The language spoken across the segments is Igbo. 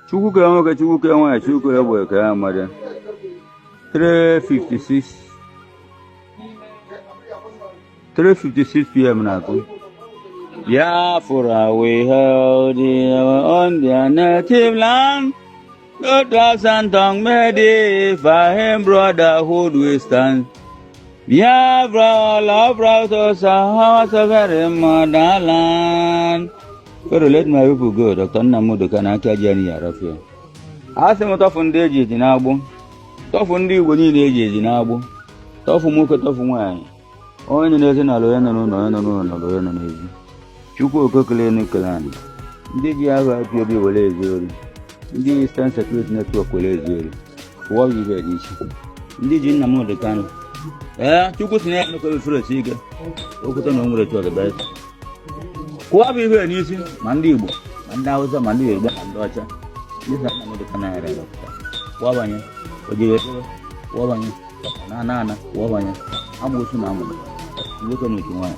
chukwu kere nwoke chukwu kere nwaanyị chukwu kere egbe kere amadị 356 pm na-akụ Biafra we hail our own dear native land though tribe and tongue may differ in brotherhood we stand Biafra all are proud to serve our sovereign motherland Pharaoh let my people go Dr. Nnamdi Kanu aka ji anyị arafia a sị m tọfụ ndị eji eji n'agbụ tọfụ ndị Igbo niile eji eji n'agbụ tọfụ nwoke tọfụ nwaanyị onye nọ n'ezi n'ala onye nọ n'ụlọ onye nọ n'ụlọ n'ala onye nọ n'ezi Chukwu oke kele enu kele anị ndị ji aha IPOB were ezu ori ndị Eastern Security Network were ezu ori kụwaba ibe n'isi ndị ji Nnamdi Kanu ee Chukwu si na ya emekọrọ fere ike okwute na o nwere chọrọ kụwaba ibe n'isi ma ndị Igbo ma ndị Hausa ma ndị Yoruba ma ndị ọcha ndị sị Nnamdi Kanu yara ya kụwabanye ojebe kụwabanye na ana ana kụwabanye amụsụ na amụrụ nwoke na uche nwaanyị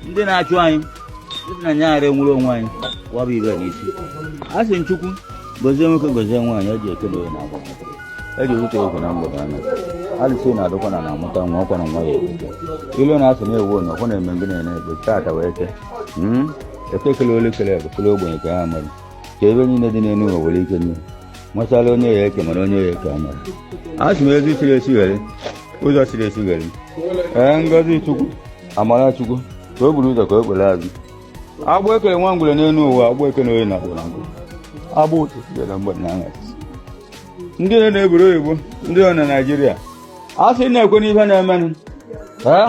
ndị na-achụ anyị ndị na anyị ghara enwere onwe anyị kụwaba ibe n'isi a sị m chukwu gozie nwoke gozie nwaanyị ọ ji eke na oyi na agwa e ji ewute egwu na mgbede anya alụsị na-adụkwa na na-amụta nwa ọkwa na nwa ya ekwute ilu na-asụ na-ewu onye ọkwa na-eme mgbe na-ene egbe taata wee ke hmm? eke kele olu kele igbo kele ogbenye kele amadị kee ife niile dị n'elu ụwa were ike nye nwesala onye ya eke mara onye ya eke amara a sị m ezi chiri echi ghere ụzọ chiri echi ghere ee ngozi chukwu amara chukwu ka o buru ụzọ ka o kpere azụ agbụ ekele nwa ngwere n'elu ụwa agbụ eke na oyi na agbụrụ agbụ agbụ ụtụtụ bịara mgbede na aṅara ndị nọ n'obodo oyibo ndị nọ na naijiria a sị na-ekwe n'ihe na-emenụ ee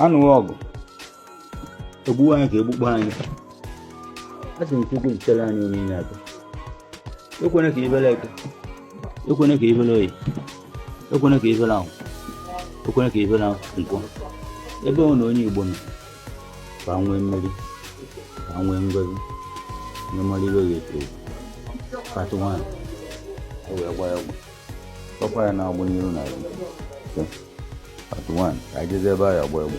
a nụwa ọgụ egbuwa anyị ka egbukpọ anyị a sị m chukwu nchere anyị onye na-abịa ekwene ka ibele eke ekwene ka ibele oyi ekwene ka ibele ahọ ekwene ka ibele nkwọ ebe ọ na onye igbo nọ ka nwee mmeri ka nwee ngozi na mmadụ ibe ga-eto katụ nwaanyị o wee gba ya ọgwụ kpọkwa ya na-agbụ n'iru na ya katụ nwaanyị ka anyị jezi ebe a ya gba egbe